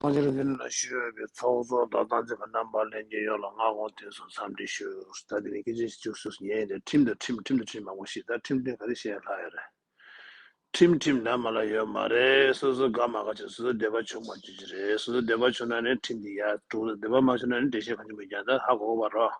ཐང་ཤིང་འདི་ནི་ལ་ཞུས་འོས་པའི་ཚོགས་གཙོ་དང་ཏང་ཙེ་བ་རྣམ་པ་ལས་འགན་ཡོད་ལ་སྔ་དགོང་དེ་ཚོ་འཚམས་འདྲི་ཞུ། ད་དེ་ནས་སྐད་ཆ་ཞིག་བཅུག་སུས་སུ་ཉན་ཡོད་དེ་ཁྲིམས་དང་ཁྲིམས་ཁྲིམས་དང་ཁྲིམས་མང་པོ་ཞིག་ད་ཁྲིམས་དོན་ག་རེ་བཤད་ལྷག་ཡོད་རེད། ཁྲིམས་ཁྲིམས་འདྲ་མ་ལ་ཡོད་མ་རེད་སོ་སོ་དགའ་མ་དགའ་ཆོག་སོ་སོ་བདེ་བ་ཆོག་མ་ཆོག་ཅི་རེད་སོ་སོ་བདེ་བ་ཆོག་ན་ནི་ཁྲིམས་དེ་ཡག་དྲུག་ལ་བདེ་བ་མ་ཆོག་ན་ནི་འགྲེལ་བཤད་གང་བྱུང་མི་རྒྱང་ད་ཧ་གོ་བར་རོགས།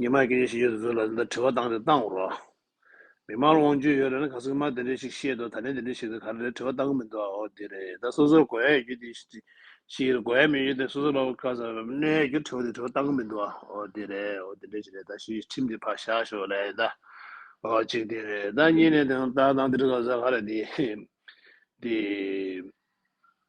ཉི་མ་སྐད་ཆ་ཞིག་ཡོད་དུ་འཛུལ་ལ་འདིར་དྲི་བ་བཏང་སྟེ་བཏང་རོགས། མི་དམངས་ལ་དབང་བཅུད་ཡོད་རེད་ན་ག་སུས་མ་དེ་འདྲས་ཞིག་བཤད་འདུག་ད་ནས་དེ་འདྲས་ཞིག་དང་ག་རེ་རེད་དྲི་བ་བཏང་གི་མི་འདུག་ཨ་འོ་དེ་རེད་ད་སོ་སོར་གོ་ཡ་ཡོད་རྒྱུ་དེ་ཞིག་རེད་གོ་ཡ་མེད་རྒྱུ་དེ་སོ་སོ་ལ་བཀའ་ཟེར་བ་གནས་ཡ་རྒྱུ་དྲི་བ་དེ་དྲི་བ་བཏང་གི་མི་འདུག་ཨ་འོ་དེ་རེད་ཨ་འོ་དེ་འདྲས་ཞིག་རེད་ད་ཞུས་ཁྲིམས་དེ་ཕར་བཞག་ཞོག་ལ་ཡིན་ད་ཨ་འོ་གཅིག་དེ་རེད་ད་གཉིས་ནས་དེ་ད་ད་འདིར་ག་ཟེར་ག་རེད་དེ་དེ།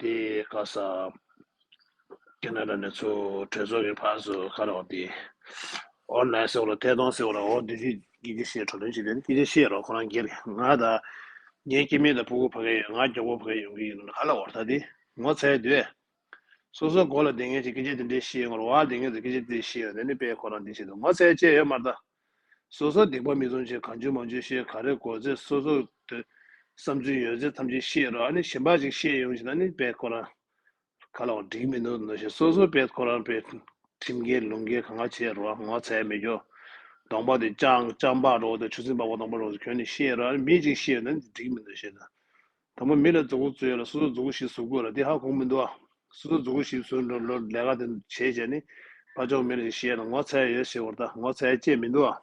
དེ་ག་ས་ཀེ་ནཱ་ར་ནས་ཚུ་གྲོས་ཚོགས་ཀྱི་བར་སུ་ཁ་རོག་དེ་འོ་ན་སེ་འོ་ལ་ཐད་གཏོང་སེ་འོ་ལ་འོ་དེ་ཤི་ཀི་ཅི་ཤེས་གྲོ་ལོན་ཅི་དེ་ནི་ཀི་ཅི་ཤེས་རོགས་ཁོ་རང་སྒེར་ང་ད་ངའི་ཀི་མེད་ད་ཕུ་གུ་ཕ་གེ་ཡོད་ང་མགྱོགས་པོ་ཕ་གེ་ཡོང་གི་ཡིན་ནོ་ག་ལ་འོ་ད་དེ་ངོ་ཚའི་དུས་སོ་སོ་གོ་ལ་དེ་ངེད་ཅིག་ཀི་ཅི་དེ་འདྲེ་ཤེས་ངོ་རོ་བ་དེ་ངེད་ཅིག་ཀི་ཅི་དེ་ཤེས་ཡོད་དེ་ནི་པས་ཁོ་རང་དེ་ཤེས་དུ་ངོ་ཚའི་ལྕེ་ཡོད་མར་ད། སོ་སོར་སྡིག་པ་མི་བཙོང་ཅིང་གང་བྱོས་མང་བྱོས་ཤེས་ག་རེ་དགོས་ཚེ་སོ་སོར་སྡོད། བསམ་ཚུལ་ཡོད་ཚེ་ཐམས་ཅད་ཤེས་རོགས་ཨ་ནི་ཞེན་པ་ཅིག་ཤེས་ཡོང་བྱེད་ན་ནི་དཔལ་ཁོ་རང་ག་ལའོ་འགྲིག་མི་འདུག་ནོ་ཞེས་སོ་སོར་དཔལ་ཁོ་རང་པའི་ཁྲིམས་འགལ་ལུང་འགལ་གང་ག་བྱེད་རོགས་ངོ་ཚའི་མི་རྒྱོ། གདོང་པགས་དེ་སྤྱང་པགས་རོགས་དེ་ཆུ་ཚིགས་པགས་པ་གདོང་པགས་རོགས་ཚོ་ཁྱོད་ནི་ཤེས་རོགས་ཨ་ནི་མི་ཅིག་ཤེས་ཡོད་ན་ནི་འགྲིག་མི་འདུག་ཞེས་ན། དང་པོ་མི་ལ་རྫོགས་སྐུ་སྩོལ་ལ་སོ་སོར་རྫོགས་སྐུ་ཞིག་གཟུགས་དགོས་ལ་འདི་ཧ་གོ་མི་འདུག་ཨ། སོ་སོར་རྫོགས་སྐུ་ཞིག་གཟུགས་ལོ་ལེ་ག་དེ་བྱས་བྱས་ནི། ཕ་མཆོག་མི་ལ་ཞིག་ཤེས་ན་ངོ་ཚ་ཡ་ཡོད་ཟེར་བར་ད་ངོ་ཚ་ཡ་ཅེས་མི་འདུག་ཨ།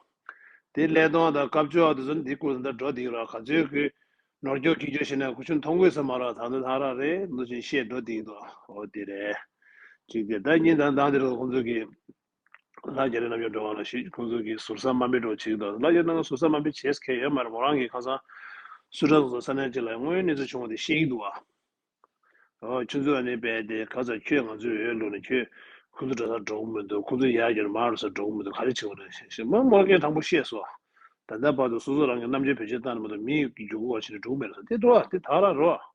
དེ་སླད་སྟོང་དང་དཀར་ཕྱོགས་ཨ་དེ་ཚོ་ནི་འདི་ཀུན་ད་འགྲོ་སྡིངས་ར་ག་ཚོད་ཀྱི། ནོར་སྐྱོག་ཁྱི་སྐྱོག་ཤི་ན་ཁུ་ཆུ་མཐོང་དགོས་ས་མ་རག་ད་ནི་ལྷ་རག་རེད་ནོ་ཅིང་ཤེས་འགྲོ་སྡིངས་འདུག་ཨ། འོ་དེ་རེད། ཅིག་དེ་ལྟར་གཉིས་དང་དང་དེ་རེ་ད་ཁོང་ཚོ་གི། ལ་རྒྱ་རི་རྣམ་གཡོ་འགྲོ་བ་ལ་ཞིག་ཁོང་ཚོ་གི་ཟུར་ཟ་མ་མི་འགྲོ་ཆིག་དོ་ལ་རྒྱ་རི་རྣམ་གཡོ་ཟུར་ཟ་མ་མི་བྱེད་ཁས་ཡོད་མ་རེད་མོ་རང་གི་ཁང་སང་སུ་གྲ་སོང་ས་གནས་གཅིག་ལ་དངོས་ཡོད་གནས་ཚུལ་བྱུང་བ་དེ་ཤེས་ཀྱི་འདུག་ཨ། ཨོ་ཁྱོད་ཚོ་ཨ་ནི་བས་ཏེ་ག་ཚ་ཁྱོད་ང་ཚོའི་འོས་བླུག་ནས་ཁྱོད་ཁོང་ཚོ་གྲ་སར་འགྲོ་གི་མི་འདུག་ཁོང་ཚོ་ཡར་རྒྱ་རི་མར་རུ་སར་འགྲོ་གི་མི་འདུག་ག་རེ་བྱེད་དགོས་རེད་ཞེས་མོ་མོར་གན་དྲང་པོ་བཤད་སོ། ད་ལྟ་བར་དུ་སོ་སོ་རང་གི་རྣམ་དཔྱོད་བེད་སྤྱོད་བཏང་ནས་མ་གཏོགས་མིའི་རྒྱུ་འགོ་བ་བྱེད་ནས་འགྲོ་གི་མེད་རེད་ས་དེ་དོག་ལ་དེ་དག་ར་རོགས།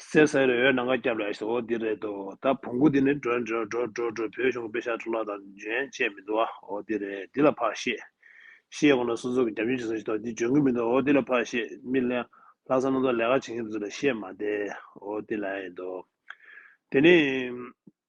གསེར་གསེར་འོད་འོད་ནམ་མཁའ་སྐྱབས་ལ་ཞོག་འོ་འདི་རེད་དོ་ད་བོང་གུ་འདི་ནི་འགྲོ་འགྲོ་འགྲོ་འགྲོ་འགྲོ་བོད་གཞུང་གི་དཔེ་ཤག་འཕྲོ་བརླག་དང་འཇོན་བཅས་མི་འདུག་ཨ་འོ་འདི་རེད་འདི་ལ་ཕར་བཤད། ཤེས་གོང་ན་སོ་སོ་གི་རྒྱབ་མཆོད་བྱེད་ས་ཞིག་ཐོག་འདི་འཇོན་གི་མི་འདུག་ཨ་འོ་འདི་ལ་ཕར་བཤད་མི་གླེང། ལྷ་ས་སྣ་ཚོགས་ལས་ཀ་བྱེད་མཁན་དེ་ཚོ་ལ་བཤད་མ་བསྡད་ཨ་འོ་འདི་ལ་ཨེ་འདུག་དེ་ནི།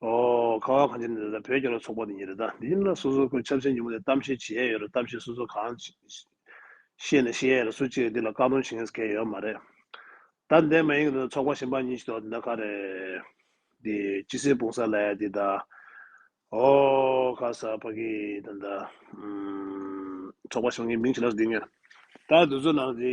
ཁ་བ་གངས་ཅན་ནི་རེད་ད་བོད་རྒྱ་ལོ་ཚོགས་པ་ནི་ཡིན་རེད་ད་དེ་ཡིན་ན་སོ་སོ་ཁོའི་ཆབ་སྲིད་ཉིན་མོ་ནས་གཏམ་བཤད་བྱེད་ཡ་ཡོད་རེད་གཏམ་བཤད་སོ་སོ་གང་བཤད་ནས་བཤད་ཡ་ཡོད་རེད་སུ་གཅིག་གིས་འདི་ལ་བཀག་སྡོམ་བྱེད་ངེས་ཀྱི་ཡོད་མ་རེད་ད་འདས་མ་ཡིན་གྱི་རེད་ད་ཚོགས་པ་གཞན་པ་གཉིས་ཤིག་འདུག་ཨ་འདི་ད་ག་རེད་འདི་སྤྱི་སེར་སྤུངས་ས་ལ་ཡ་འདི་ད་ཨོ་ཁ་ས་ཕ་གི་ད་ད་ཚོགས་པ་གཞན་པ་གཉིས་མིང་ཇི་ལ་ཟེར་འདི་ངས་ད་འདི་ཚོ་ནང་འདི།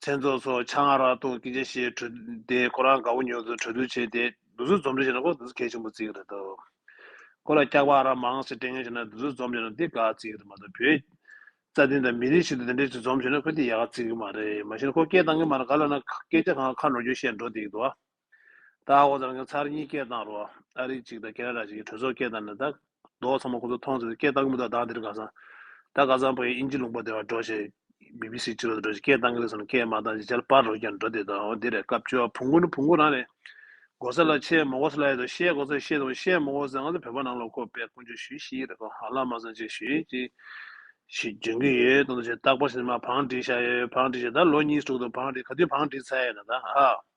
མཚན་ཚོགས་སོགས་ཆ་ང་རག་ལྟུང་གི་སྐྱེ་ཤི་གྲོལ་ཏེ་ཁོ་རང་དགའ་བོ་ཉོ་ཚོད་གྲོལ་བསྡུ་བྱས་ཏེ་བདུད་རྩི་འཛོམས་འདྲེ་བྱས་ན་ཁོ་བདུད་རྩི་གལ་ཆེན་པོ་རྩི་གི་རེད་དོ། ཁོ་ལ་སྐྱག་པ་རག་མང་སེ་སྤྲེལ་ངན་བྱས་ན་བདུད་རྩི་འཛོམས་བྱས་ན་འདི་དགའ་རྩི་གི་རེད་མ་གཏོགས་བོད་རྩ་ལྡིང་དང་མི་རིགས་ཤིག་ཏུ་དེ་འདྲའི་ཚུལ་འཛོམས་བྱས་ན་ཁོ་འདི་ཡག་རྩི་གི་མ་རེད་མ་གཞི་ན་ཁོ་སྐད་གཏང་གི་མ་རེད་ག་ལ་ན་སྐད་ཆ་གང་ཁ་ནོར་རྒྱུ་བཤད་འགྲོ་འདི་གདུག་བ། ད་ཨ་ཁོང་ཚོ་རང་སྐྱོང་ཚར་གཉིས་སྐད་བཏང་རོགས་ཨ་རི་གཅིག་དང་ཀེ་ན་ར་གཅིག་གི་གྲོས་ཚོགས་སྐད་བཏང་ནས་ད། མདོག་ཚང་མ་ཁོང་ཚོ་མཐོང་ཚེ་སྐད་བཏང་གི་མི་འདུག་བདག་འདིར་དགའ་སང། ད་དགའ་སང་བོད་ཡིག་ཨིན་ཇི་ལུང་པ་དེ་བར་འགྲོ་ཞེས། BBC སྤྱི་ལོ་དེ་འགྲོ་ཞེས་སྐད་བཏང་གི་རེད་ཟེར་ནས་སྐད་མ་བཏང་ཞེས་ཇར་པར་རོ་ཀྱང་འགྲོ་དེ་ད་འོ་དེ་རེད་སྐབས་བཅོ་བ་བུ་མགོ་ནི་བུ་མགོ་རང་རེད། མགོ་ས་ལ་ཆེས་མོ་མགོ་ས་ལ་ཡོད་དོ་ཤེས་མགོ་ས་ཤེས་དང་ཤེས་མོ་མགོ་ས་ང་ཚོ་བོད་པ་ནང་ལ་ཁོ་པས་ཀུན་སྤྱོད་ཞུས་ཤིག་རེད་གོ་ཧ་ལ་མ་སང་ཅིག་ཞུས་ཅིག། ཞེས་འབྱོན་གྱི་ཡོད་དང་དུ་ཞེས་རྟག་པར་བྱས་ནས་མ་བང་སྒྲིག་བཞག་ཡོད་བང་སྒྲིག་བྱས་ད་ལོ་གཉིས་ཟུག་འདུག་བང་སྒྲིག་ག་དུས་བང་སྒྲིག་ཚར་ཡོད་ན་ད་ཧ།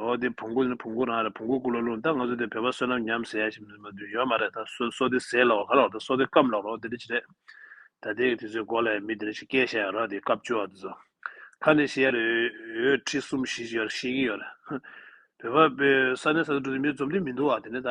ཨོ་དེ་བུང་གུ་ནི་བུང་གུ་རང་རེད་བུང་གུ་སྐུ་ལ་ལུང་ད་ང་ཚོ་དེ་བོད་པ་བསོད་ནམས་ཉམས་ཟེར་ཡ་ཞིག་མི་འདུག་ཡོད་མ་རེད་ད་སོ་སོ་དེ་ཟས་ལ་བ་ག་ལ་བ་ད་སོ་དེ་སྐམ་ལ་རོ་དེ་འདྲ་ཅི་རེད་ད་དེ་དེ་ཚོའི་མགོ་ལ་ཡང་མི་དེ་འདྲ་ཞིག་སྐྱེ་ཤ་ཡང་རག་དེ་སྐབས་བཅོ་བ་དེ་ཚོ་ཁ་ནས་བཤད་ཡ་རེད་འོད་ཁྲི་གསུམ་བཞི་ཅིག་ཡོད་རེད་ཤེས་ཀྱི་ཡོད་རེད་བོད་པ་པོའི་ས་གནས་ས་ཚུ་འགྲོ་དུས་མི་འཛོམས་དུས་མི་འདུག་ཨ་དེ་ནས་ད།